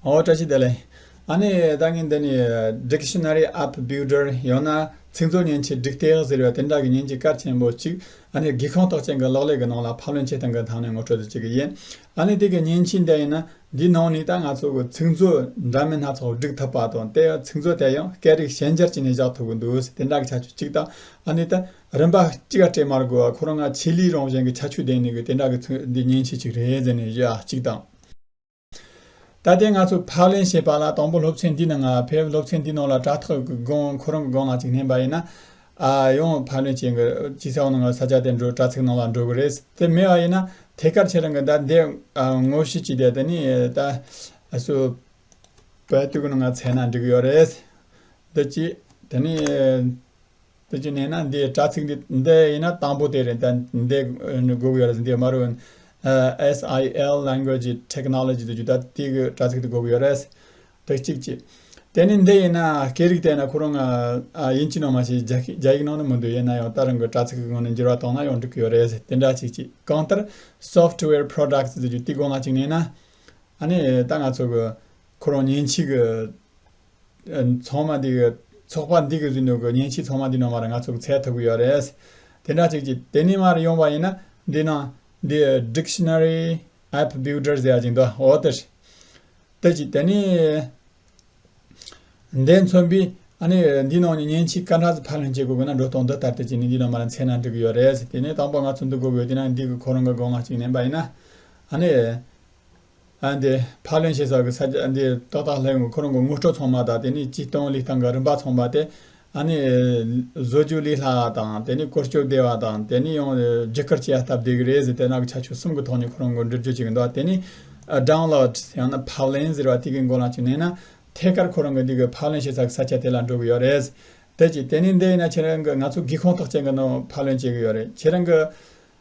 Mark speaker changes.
Speaker 1: ཨོ་བཀྲ་ཤིས་བདེ་ལེགས། ཨ་ནེ་ད་ངས་འདི་ནས Dictionary App Builder ཡང་ན་ཚིག་མཛོད་བརྙན་ཆས་སྒྲིག་སྟེགས་ཟེར་བའི་དེ་འདྲ་གི་བརྙན་གྱི་སྐར་ཆེན་པོ་གཅིག་ཨ་ནེར་སྒེའུ་ཁང་ཐོག་ཅན་གྱི་གློག་ཀླད་ཀྱི་ནང་ལ་ཕབ་ལེན་བྱེད་སྟངས་ཀྱི་ཐང་ནས་ངོ་སྤྲོད་དུ་བཅུག་གི་ཡིན། ཨ་ནེ་དེ་གི་བརྙན་ཆས་འདི་ཡིན་ན་འདིའི་ནང་ནས་ད་ང་ཚོ་གི་ཚིག་མཛོད་འདྲ་མིན་སྣ་ཚོགས་སྒྲིག་ཐུབ་པ་དང་དེ་ཡང་ཚིག་མཛོད་དེ་ཡང་སྐད་རིགས་གཞན་སྦྱར་བྱས་ནས་བཞག་ཐུབ་གི་འདུག་ཟེར་དེ་འདྲ་གི་ཁྱད་ཆོས་གཅིག་དང་ཨ་ནེ་ད་རིམ་པ་གཅིག་སྤྲད་མར་དགོས་བ་ཁོ་རང་ང་ཆེད་ལས་རང་བཞིན་གྱི་ཁྱད་ཆོས་ལྡན་ནས་གི་དེ་འདྲ་གི་ཚིག་འདི་བརྙན་ཆས་གཅིག་རེད་ཟེར་ནས་བཞག་གཅིག་དང། ད་ལྟའི་ང་ཚོ་ཕག་ལེན་བྱེད་པ་ལ་དང་པོ་སློབ་ཚན་འདི་ནང་ཕེབས་སློབ་ཚན་འདི་ནང་ལ་དྲ་ཐོག་གི་སྒོ་ཁོ་རང་གི་སྒོ་ང་ཅིག་ལྷན་པ་ཡིན་ན། ཨ་ཡང་ཕག་ལེན་བྱེད་གི་ས་འོག་ནང་ས་ཆ་དེ་འགྲོ་དྲ་ཚིགས་ནང་ལ་འགྲོ་གི་རེད་དེ་མེད་པ་ཡིན་ན་ཐད་ཀར་ཁྱེད་རང་གི་ད་འདས་ངོ་ཤེས་ཀྱི་དེ་ནི་ད་སུ་བལ་དུག་ནང་ཚལ་ན་འགྲིག་ཡོད་རེད་འདི་གཅིག་དེ་ནི། དེ་བྱས་ནས་ན་འདི་དྲ་ཚིགས་འདི་འདི་ཡིན་ན་དང་པོ་དེ་རེད་ད་འདི་སྒུག་ཡོད་རེད་འདི་དམར་བོ SIL Language Technology དུ་རྒྱུ་ད་དེ་གི་དྲ་ཚིགས་དུ་སྒུག་ཡོད་རེད། དེ་གཅིག་ཅེས། དེ་ནས་འདི་ཡིན་ན་སྐད་རིགས་དེ་ཡིན་ན་ཁོ་རང་དབྱིན་ཇི་ནང་མ་ཞིག་རྒྱ་ཡིག་རྒྱ་ཡིག་ནང་ནས་མི་འདུག་ཡིན་ན་ཡང་ད་རང་གི་དྲ་ཚིགས་ཀྱི་ངོས་ནས་འགྱུར་བ་བཏང་ན་ཡང་འགྲིག་གི་ཡོད་རེད་དེ་འདྲ་གཅིག་ཅེས་གང་ལྟར Software Products དུ་རྒྱུ་དེ་སྒོ་ང་གཅིག་ནས་ན་ཨ་ནི་ད་ང་ཚོ་གི་ཁོ་རང་ཉིན་གཅིག་གི། ཚང་མ་འདི་གི་ཚོགས་པ་འདི་གི་རིང་ལུགས་ཀྱི་བརྙན་ཕྱི་ཚང་མ་འདི་ནང་མ་རེད་ང་ཚོ་གི་ཚད་ཐུབ་ཀྱི་ཡོད་རེད། དེ་འདྲ་ཅིག་ཅིག་དེ་ནས་མ་རེད་ཡོང་བ་ཡིན་ན་འདི་ནང་འདི Dictionary App Builder ཟེར་ཡ་ཅིག་འདུག་ཨོ་དེ་རེད། དེ་ཅིག་དེ་ནས་འདས་མཚོན་པའི་ཨ་ནི་འདི་ནང་ནས་བརྙན་ཕྱི་ཀ་འདྲ་ཟིག་ཕར་ལྷན་སྐྱེས་དགོས་དགོས་ན་འགྲོ་སྟངས་འདི་ལྟར་དེ་ཅིག་ནས་འདི་ནང་མ་རེད་མཚན་ན་འགྲིག་གི་ཡོད་རེད། དེ་ནས་དང་པོ་ང་ཚོ་འདི་དགོས་དགོས་དེ་ནང་འདི་གི་ཁོ་རང་གི་དགོངས་ངག་ཅིག་ནན་པ་ཡིན་ན་ཨ་ནི། ཨ་འདི་ཕག་ལེན་བྱེད་ས་གི་ས་རྒྱ་ཨ་འདི་ཏོག་ཏག་ལྷའི་ངོ་ཁོ་རང་གི་དངོས་སྤྲོ་ཚང་མ་དང་དེ་ནི་སྤྱི་སྟོང་ལི་སྟང་གི་རིམ་པ་ཚང་མ་སྟེ་ཨ་ནི་བཟོ་རྒྱུ་ལི་ལྷ་དང་དེ་ནི་གོར་སྐྱོབ་སྡེ་བ་དང་དེ་ནི་ཡང་རྒྱུ་སྐར་སྐྱེ་བ་སྟབས་བདེ་གི་རེད་ཟེར་དེ་ནག་གི་ཆ་ཆུ་གསུམ་གི་ཐོག་ནས་ཁོ་རང་མགོ་འདྲིར་རྒྱུ་བྱེད་གི་འདུག་དེ་ནི Download ཡང་ན་ཕག་ལེན་ཟེར་བ་དེ་གི་མགོ་ལ་ཅིག་གནས་ན་ཐད་ཀར་ཁོ་རང་གི་འདི་གི་ཕག་ལེན་བྱེད་ས་གི་ས་ཆ་དེ་ལ་འགྲོ་གི་ཡོད་རེད། དེ་ཅིག་དེ་ནི་འདི་ཡིན་ན་ཁྱེད་རང་གི་ང་ཚོ་སྒེའུ་ཁུང་ཐག་ཅན་གི་ནང་ཕག་ལེན་བྱེད་གི་ཡོད་རེད་ཁྱེད་རང་གི།